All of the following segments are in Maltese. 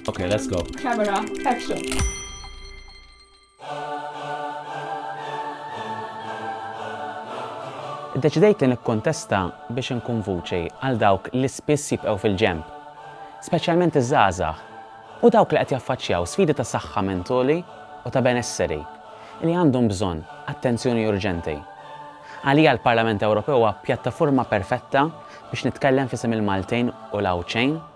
Okay, let's go. Camera, action. Deċidejt li nikkontesta biex inkun vuċi għal dawk li spiss jibqgħu fil-ġemp, speċjalment iż-żgħażagħ u dawk li qed jaffaċċjaw sfidi ta' saħħa mentoli u ta' benesseri li għandhom bżonn attenzjoni urġenti. Għalija l-Parlament Ewropew huwa pjattaforma perfetta biex nitkellem fisem il-Maltin u l-Għawdxejn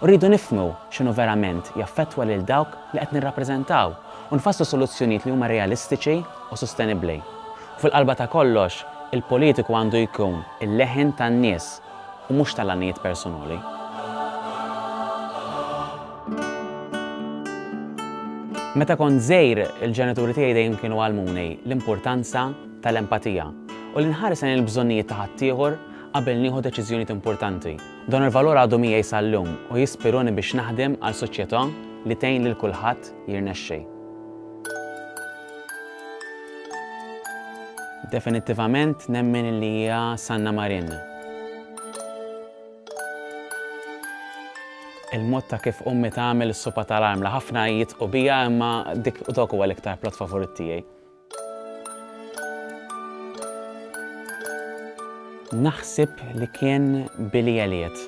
Rridu nifhmu x'inhu verament jaffettwa lil dawk li qed nirrappreżentaw u nfasslu soluzzjonijiet li huma realistiċi u sostenibbli. U fil-qalba ta' kollox, il-politiku għandu jkun il-leħen tan-nies u mhux tal-għanijiet persunali. Meta kont żgħir, il-ġenituri tiegħi dejjem kienu għallmuni l-importanza tal-empatija u li nħares lejn il-bżonnijiet ta' ħaddieħor qabel nieħu deċiżjonijiet importanti. Dan il-valur għadu miegħi sal-lum u jispiruni biex naħdem għal soċjetà li tgħin lil kulħadd jirnexxi. Definittivament nemmen li hija Sanna Marin. Il-mod ta' kif ummi tagħmel is-supa tal-armla ħafna jitqu bija imma dik dok huwa l-iktar plot favorit tiegħi. Naħseb li kien Billy Elliot.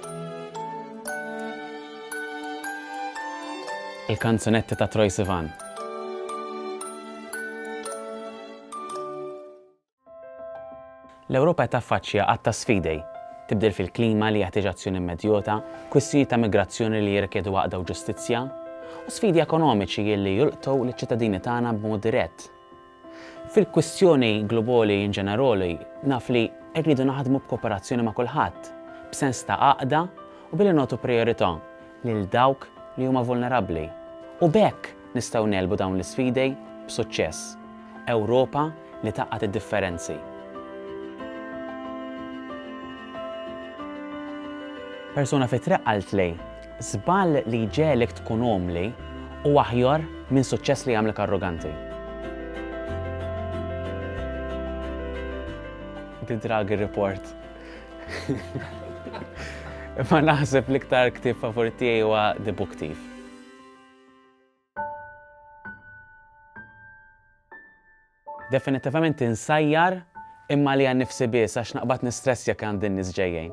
Il-kanzunetti ta' Troy Sivan. L-Ewropa qed taffaċċja għadd ta' sfidei, tibdil fil-klima li jeħtieġ azzjoni immedjota, kwistjonijiet ta' migrazzjoni li jirrikjedu għaqda u ġustizzja, u sfidi ekonomiċi li jolqtu liċ-ċittadini tagħna b'mod dirett. Fil-kwistjoni globoli in generoli, naf li rridu naħdmu b'kooperazzjoni ma' kulħadd, b'sens ta' għaqda u billi nagħtu prijorità lil dawk li huma vulnerabbli u b'hekk nistgħu negħlbu dawn l-isfidi b'suċċess. Ewropa li tgħaqqad id-differenzi. Persuna fit-triq qaltli, Żball li jġegħlek tkun umli hu aħjar minn suċċess li jagħmlek arroganti. The Draghi Report Ma naħseb l-iktar ktib favorit tiegħi huwa The Book Thief. Definitivament insajjar imma li għan nifsi biss għax naqbad nistress jekk għandin nisġejjejn.